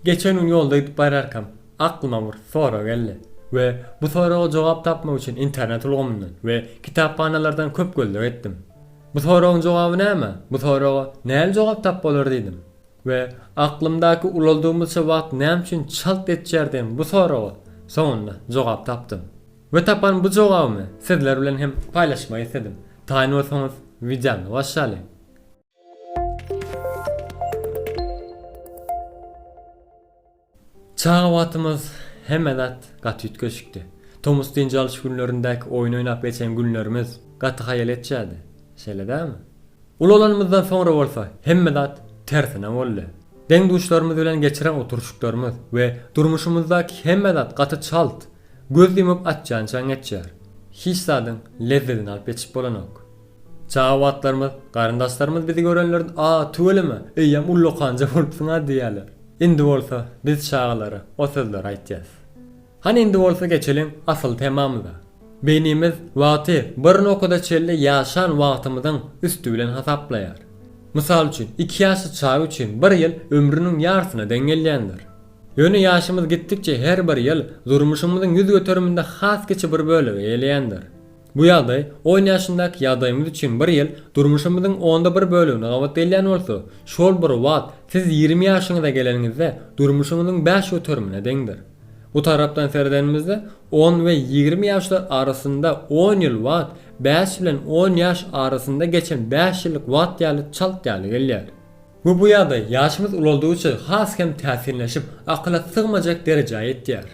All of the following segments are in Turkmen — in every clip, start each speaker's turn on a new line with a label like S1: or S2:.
S1: Geçen gün ýolda gidip barýarkam aklyma bir sorag geldi we bu soraga jogap tapmak üçin internet ulgamyndan we kitaphanalardan köp gözleg etdim. Bu soragyň jogaby näme? Bu soraga näl jogap tap bolar diýdim. We aklymdaky ulaldygymyzça wagt näme üçin çalt geçýär diýen bu soraga soňunda jogap tapdym. We tapan bu jogabymy sizler bilen hem paýlaşmak isledim. Taýyn bolsaňyz wideony başlalyň. Çaga wagtymyz hemme zat gaty üýtgeşikdi. Tomus dynç alyş günlerindäki oýun oýnap geçen günlerimiz gaty haýal etjädi. Şeýle dälmi? Ulalanymyzdan soňra bolsa hemme zat tersine boldy. Deň-duşlarymyz bilen geçiren oturyşyklarymyz we durmuşymyzdaky hemme zat gaty çalt, göz ýumup açýançaň geçýär. Hiç zadyň lezzedini alyp geçip bolanok. Çaga wagtlarymyz, garyndaşlarymyz bizi görenlerinde, A, tüweleme, eýýäm ullukanja bolupsyň-a diýerler. Indi bolsa, biz çagalara o sözleri aýtýarys. Hany indi bolsa geçeliň asyl temamyza. Beýnimiz wagty bir nokada çenli ýaşan wagtymyzyň üsti bilen hasaplaýar. Mysal üçin, iki ýaşly çaga üçin bir ýyl ömrüniň ýarsyna deň gelýändir. Ýöne ýaşymyz gitdikçe her bir ýyl durmuşymyzyň ýüz göteriminde has kiçi bir bölege eýleýändir. Bu ýagdaý on ýaşyndaky ýagdaýymyz üçin bir ýyl durmuşymyzyň onda bir bölegine gabat gelýän bolsa, şol bir wagt siz ýigrimi ýaşyňyza geleniňizde durmuşyňyzyň bäş göterimine deňdir. Bu tarapdan seredenimizde on we ýigrimi ýaşlar arasynda on ýyl wagt bäş bilen on ýaş arasynda geçen bäş ýyllyk wagt ýaly çalt ýaly gelýär. We bu ýagdaý ýaşymyz ulaldygyça has hem täsinleşip, akyla sygmajak derejä ýetýär.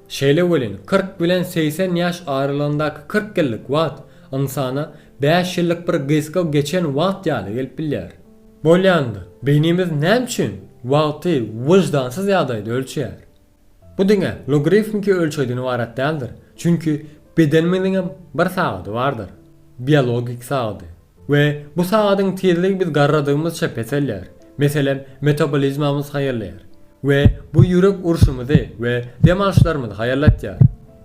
S1: Şeýle welin, kyrk bilen segsen ýaş aralygyndaky kyrk ýyllyk wagt ynsana bäş ýyllyk bir gysga geçen wagt ýaly gelip bilýär. Bolýanda, beýnimiz näme üçin wagty wyždansyz ýagdaýda ölçeýär? Bu diňe logarifmiki ölçegden ybarat däldir, çünki bedenimiziňem bir sagady bardyr, biologik sagady. We bu sagadyň tizligi biz garradygymyzça peselýär. Meselem, metabolizmamyz haýallaýar. We bu ýürek urşumyzy we dem alyşlarymyzy haýallatýar.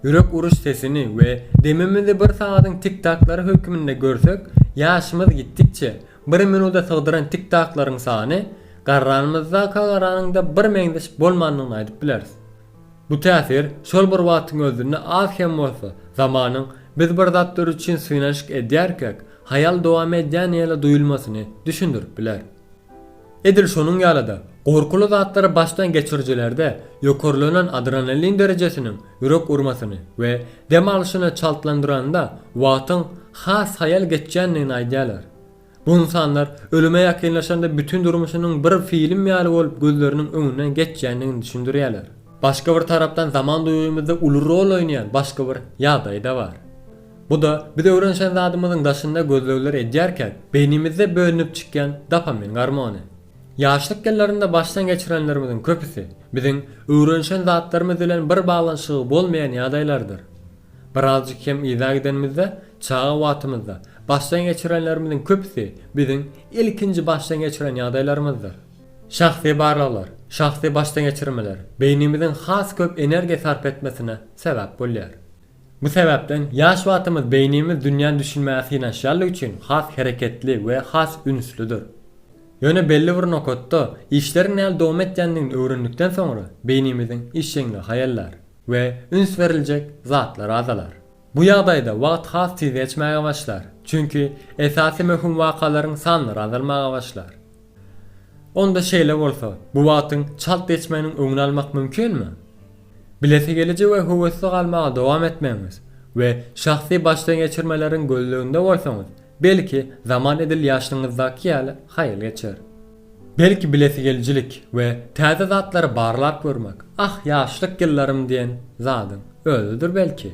S1: Ýürek uruş sesini we demimizi bir sagadyň tik-taklary höküminde görsek, ýaşymyz gitdikçe, bir minuda sygdyran tik-taklaryň sany garranymyzdaka garanyňda bir meňzeşip bolmandygyny aýdyp bileris. Bu täsir şol bir wagtyň özünde az hem bolsa, zamanyň biz bir zatlar üçin synanyşyk edýärkäk, haýal dowam edýän ýaly duýulmasyny düşündirip biler. Edil şonuň ýaly-da, gorkuly zatlary başdan geçirijilerde ýokarlanan adrenalin derejesiniň ýürek urmasyny we dem alşyny çaltlandyranda wagtyň has haýal geçýändigini aýdýarlar. Bu ynsanlar ölüme ýakynlaşanda bütin durmuşynyň bir film ýaly bolup gözleriniň öňünden geçýändigini düşündirýärler. Başga bir tarapdan zaman duýgymyzda uly rol oýnaýan başga bir ýagdaý-da bar. Bu-da biz öwrenişen zadymyzyň daşynda gözlegler edýärkäk beýnimizde bölünip çykýan dopamin gormony. Ýaşlyk ýyllarynda başdan geçirenlerimiziň köpüsi biziň öwrenişen zatlarymyz bilen bir baglanyşygy bolmaýan ýagdaýlardyr. Birazjyk hem yza gidenimizde, çaga wagtymyzda başdan geçirenlerimiziň köpüsi biziň ilkinji başdan geçiren ýagdaýlarymyzdyr. Şahsy barlaglar, şahsy başdan geçirmeler beýnimiziň has köp energiýa sarp etmesine sebäp bolýar. Bu sebäpden ýaş wagtymyz beýnimiz dünýäni düşünmäge synanyşýanlygy üçin has hereketli we has ünslidir. Ýöne belli bir nokatda işleriň nähili dowam etýändigini öwrendikden soňra beýnimiziň işjeňligi haýallär. we üns beriljek zatlar azalar. Bu ýagdaýda wagt has tiz geçmäge başlar, çünki esasy möhüm wakalaryň sanlary azalmaga başlar. Onda şeýle bolsa, bu wagtyň çalt geçmeginiň öňüni almak mümkinmi? Bilesigelijä we höwesli galmaga dowam etmegiňiz we şahsy başdangeçirmeleriň gözleginde bolsaňyz, Belki, zaman edil ýaşlygyňyzdaky ýaly haýal geçer. Belki bilesigelijilik we täze zatlary barlap görmek, ah, ýaşlyk ýyllarym diýen zadyň özüdir belki?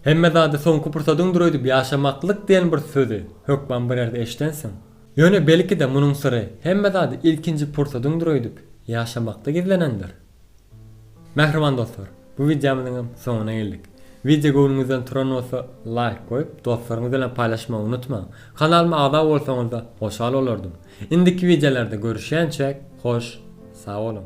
S1: Hemme zady soňky pursadyňdyr öýdüp ýaşamaklyk diýen bir sözi hökman bir ýerde eşidensiň. Ýöne belki-de munuň syry hemme zady ilkinji pursadyňdyr öýdüp ýaşamakda gizlenendir? Mähriban dostlar, bu wideomyzyň hem soňuna geldik. Wideo göwnüňizden turan bolsa, laýk goýup, dostlaryňyz bilen paýlaşmagy unutmaň. Kanalyma agza bolsaňyzda hoşal bolardym. Indiki wideolarda görüşýänçäk, hoş, sag boluň!